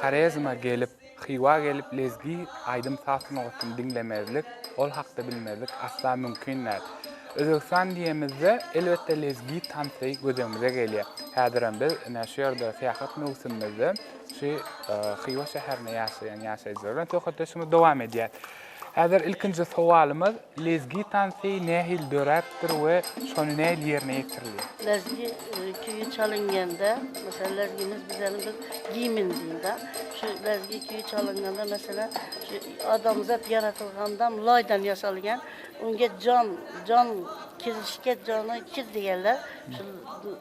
Horezme gelip, Hywa gelip lezgi aýdym-saz sungatyny diňlemezlik, ol hakda bilmezlik asla mümkin däl. Özbegistan diýemizde, elbetde lezgi tansy gözegimize gelýär. Häzirem biz ine şu ýerde syýahat möwsümimizde şu Hywa şäherinde ýaşaýan ýaşaýjylar bilen söhbetdeşligimizi dowam edýäs. Häzir ilkinji sowalymyz, Lezgi tansy nähili döräpdir we şony nähili ýerine ýetirilýär? Lezgi küýi çalynganda, meselem, lezgimiz bizeniň bir gimn diýinda, şu lezgi küýi çalynganda, meselem, şu adamzat ýaratylgandam laýdan ýasalýan, öňde jon, jon, kirizişke jony kir diýerler, şul.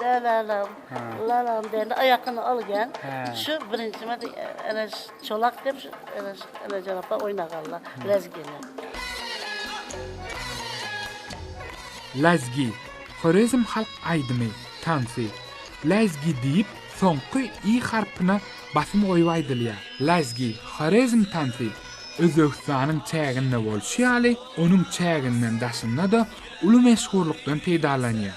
Dälälam, lalam diýende aýakyny alýan. Şu birinji medi ana çolak diýip şu ana ana jarapa oýnaganlar. Lezgini. Lezgi, Horezm halk aýdymy, tansy. Lezgi diýip soňky i harpyna basym goýup aýdylýar. Lezgi, Horezm tansy. Özbegistanyň çäginde bolşy ýaly, onuň çäginden daşynda-da uly meşhurlykdan peýdalanýar.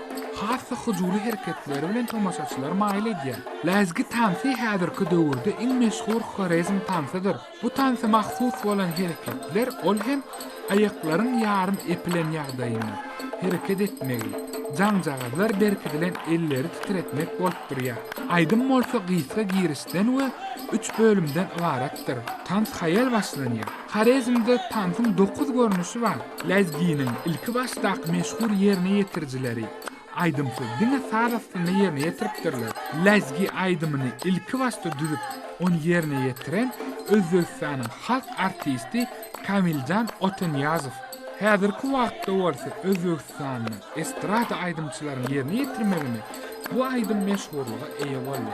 Has-da hyjuwly hereketleri bilen tomaşaçylary maýyl edýär. Läzgi tansy häzirki döwürde iň meşhur horezm tansydyr. Bu tansa mahsus bolan hereketler, ol hem aýaklaryň ýarym epilen ýagdaýynda hereket etmegi, jaňjagazlar berkidilen elleri titretmek bolup durýar. Aýdym bolsa gysga girişden we üç bölümden ybaratdyr. Tans haýal başlanýar. Horezmde tansyň dokuz görnüşi bar. Lezginiň ilkibaşdaky meşhur ýerine ýetirijileri aýdymsyz diňe saz astynda ýerine ýetiripdirler. Lezgi aýdymyny ilkibaşda düzüp, ony ýerine ýetiren Özbegistanyň halk artisti Kamiljan Otanyýazow. Häzirki wagtda bolsa Özbegistanda estrada aýdymçylaryň ýerine ýetirmeginde bu aýdym meşhurlyga eýe boldy.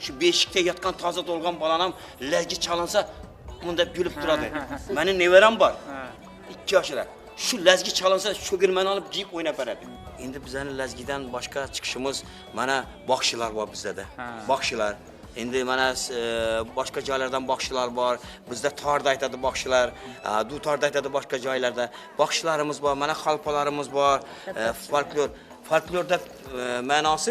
Şu beşikde ýatgan taze dolgan balanam läji çalynsa munda gülüp durady. Meniň neberem bar. 2 ýaşyrak. Şu läzgi çalynsa şu girmeni alyp jik oýnap beredi. Indi bizden läzgiden başga çykyşymyz mana bagşylar bar bizde-de. Bagşylar. Indi mana e, başga jaýlardan bagşylar bar. Bizde tarda aýtady bagşylar. Dutarda aýtady başga jaýlarda. Bagşylarymyz bar, mana halpalarymyz bar. E, folklor. Folklorda e, manasy